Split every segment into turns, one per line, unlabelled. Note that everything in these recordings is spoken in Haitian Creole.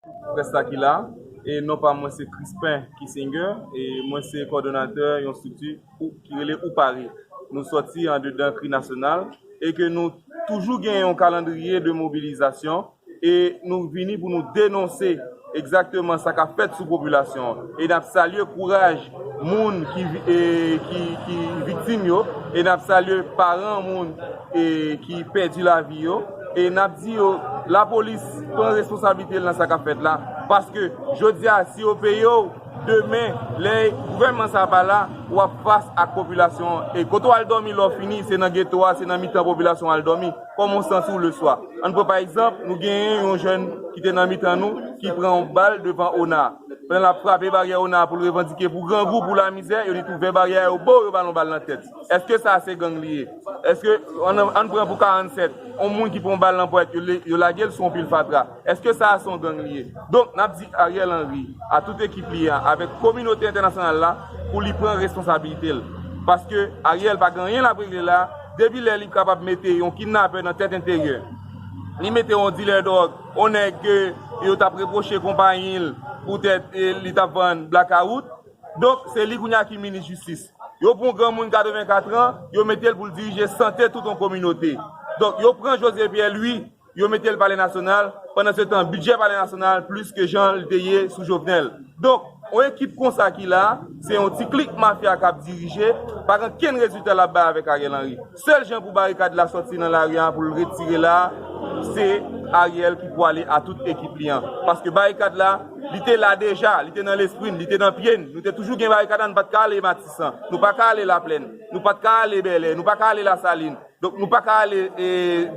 Près la ki la, e non pa mwen se Crispin Kissinger e mwen se kòdonatè yon strikti ki rele Oupari. Nou sòti andedan kri nasyonal e ke nou toujou gen yon kalandriye de mobilizasyon e nou vini pou nou denonse egzakteman sa k ap fèt sou popilasyon an. E n ap salye kouraj moun ki viktim yo e n ap salye paran moun ki pèdi lavi yo. E nap di yo la polis pran responsabilite l nan sa kap fèt la paske jodi a si yo peye w demen lè gouvènman sa pa la wap fas ak popilasyon an e kote w al dòmi lè w fini se nan geto a se nan mitan popilasyon w al dòmi kòman w santi w leswa ann pran pa egzanp nou genyen yon jèn ki te nan mitan nou ki pran yon bal devan ona pandan lap frape baryè ona pou l revandike pou grangou pou lamizè yo li t ouvè baryè a yo bo yo ba l yon bal nan tèt. Eske sa se gang li ye? Eske, ann pran pou 47, yon moun ki pran yon bal nan pwèt, yo lage l sou yon pil fatra. Eske sa a se yon gang li ye? Donk, n ap di Ariel Henry, a tout ekip li an, avèk kominote entènasyonal la, pou li pran responsabilite l. Paske, Ariel pa gen anyen l ap regle la, depi lè li kapab mete yon kidnapè nan tèt enteryè, li mete yon dilè dwòg, yon nèg ke yo t ap repwoche konpayi l poutèt li t ap vann blakawout, Donk, se li kounye a ki minis jistis. Yo pran yon granmoun 84 an, yo mete l pou l dirije sante tout yon kominote. Donk, yo pran José Pierre Louis, yo mete l Palè Nasyonal, pandansetan bidjè Palè Nasyonal plis ke jan l te ye sou Jovenel. Donk, yon ekip konsa ki la, se yon ti klik mafya k ap dirije, pa gen kenn rezilta l ap bay avèk Ariel Henry. Sèl jan pou barikad la sòti nan lari an poul retire la se Ariel ki pwale a tout ekip li an paske barikad la li te la deja li te nan lespri n li te nan pye n nou te toujou gen barikad la nou pat ka ale matisan nou pa ka ale laplèn nou pat ka ale bèlè nou pa ka ale lasalin donk nou pa ka ale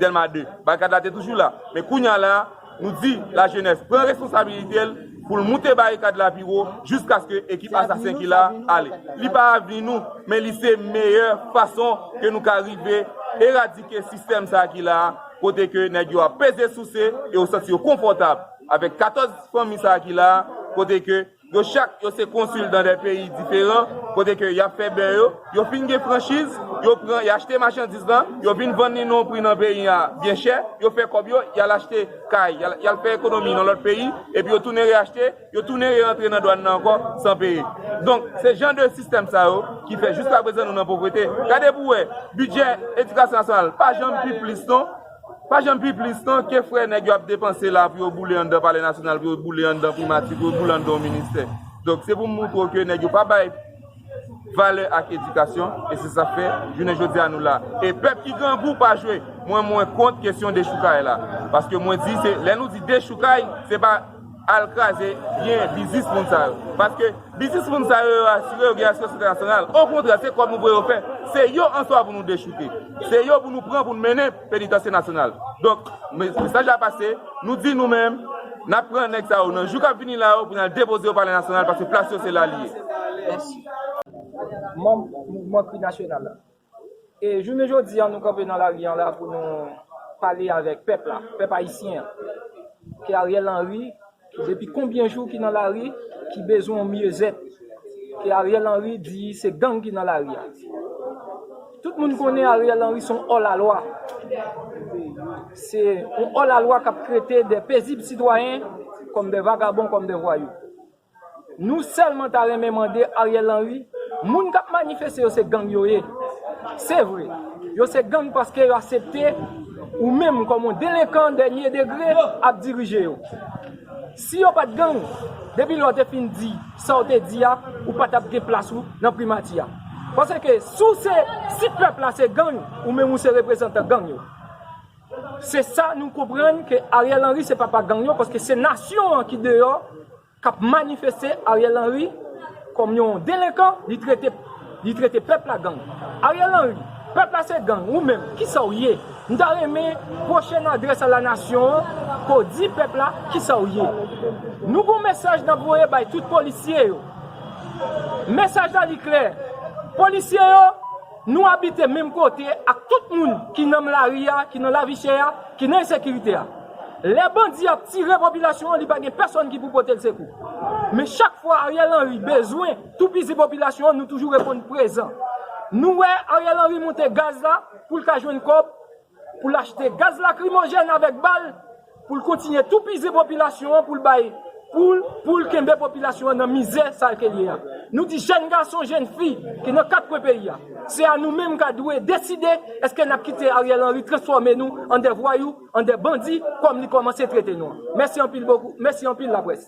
delma 2 barikad la te toujou la men kounya la Nou di lajenès pran responsabilite l pou l moute barikad la pi wo jiskaske ekip asasen ki la a ale. Li pa avni nou, men li se meyè fason ke nou ka rive eradike sistèm sa a ki la a, kote ke nèg yo ap peze souse e yo santi yo konfòtab avèk 14 fanmi sa a ki la a, kote ke. Yo chak yo se konsil dan 2 peyi diferan kote ke y ap fè bè yo. Yo fin gen franchiz, yo pran, y achte machandiz la, yo vin vann li nan pri nan peyi a byen chè, yo fè kòb yo, y al achte kay, y al y al fè ekonomi nan lòt peyi, epi yo tounen reyachte, yo tounen re-rantre nan dwàn nan ankò san peye. Donk, se jan de sistèm sa yo ki fè jiskaprezan nou nan povrete. Gade pou wè, bidjè edikasyon nasyonal pa janm pi plis non. Pa janm pi plis non, ke frè nèg yo ap depanse la pou yo boule anndan palè nasyonal, pou yo boule anndan primati, pou yo boule anndan yon ministè. Donk se pou m montre w ke nèg yo pa bay valè ak edikasyon, e se sa k fè jounen jodi a nou la. E pèp ki grangou pa jwe. Mwen mwen kont kesyon dechoukay la. Paske mwen di se, lè nou di dechoukay, se pa. Al kraze byen biznis moun sa yo. Paske biznis moun sa yo yo asire yo gen asyans entènasyonal. Okontrè se kòb nou voye yo fè. Se yo answa pou nou dechouke. Se yo pou nou pran pou nou mennen penitansye nasyonal. Donk mesaj la pase, nou di nou menm, n ap pran nèg sa yo nan jou k ap vini la yo pou n al depoze yo palè nasyonal paske plas yo se la li ye.
Manm mouvman kri nasyonal la, E jounen jodi a nou kanpe nan lari an la pou nou pale avèk pèp la, pèp ayisyen an. Ke Ariel Henry depi konbyen jou ki nan lari, ki bezwen yon myezèt. Ke Ariel Henry di se gang ki nan lari a. Tout moun konnen Ariel Henry son òlalwa. Se yon òlalwa kap trete de pezib sitwayen kòm de vagabon, kòm de vwayou. Nou selman ta renmen mande Ariel Henry moun kap manifeste yo se gang yo ye se vre yo se gang paske yo asepte ou menm kom yon delenkan denye degre ap dirije yo si yo pat gang depi lè w te fin di sa w te di a ou pa tap gen plas ou nan primati a paske si w se si pèp la se gang ou menm ou se reprezantan gang yo. Se sa nou konprann ke Ariel Henry se papa gang yo paske se nasyon an ki deyò kap manifeste Ariel Henry kòm yon delenkan li trete li trete pèp la gang Ariel Henry pèp la se gang ou menm kisaw ye m ta renmen pwochèn adrès a la nasyon an ke w di pèp la kisaw ye nou gon mesaj nap voye bay tout polisye yo mesaj la li klè polisye yo Nou abite menm kote ak tout moun ki nam lari a, ki nan lavi chè a, ki nan ensekirite a. Lè bandi ap tire popilasyon an li pa gen pèsòn ki pou pote l sekou. Men chak fwa Ariel Henry bezwen toupizi popilasyon an nou toujou reponn prezan. Nou wè Ariel Henry monte gaz la pou l ka jwenn kòb. pou l achte gaz lakrimojèn avèk bal pou l kontinye toupizi popilasyon an pou l bay poul pou l kenbe popilasyon an nan mizè sa ke l ye a. Nou di jèn gason, jèn fi ki nan kat kwen peyi a, se a nou menm ka dwe deside eske n ap kite Ariel Henry transfòme nou an dè vwayou, an dè bandi kòm li kòmanse trete nou an. Mèsi anpil bokou, mèsi anpil laprès.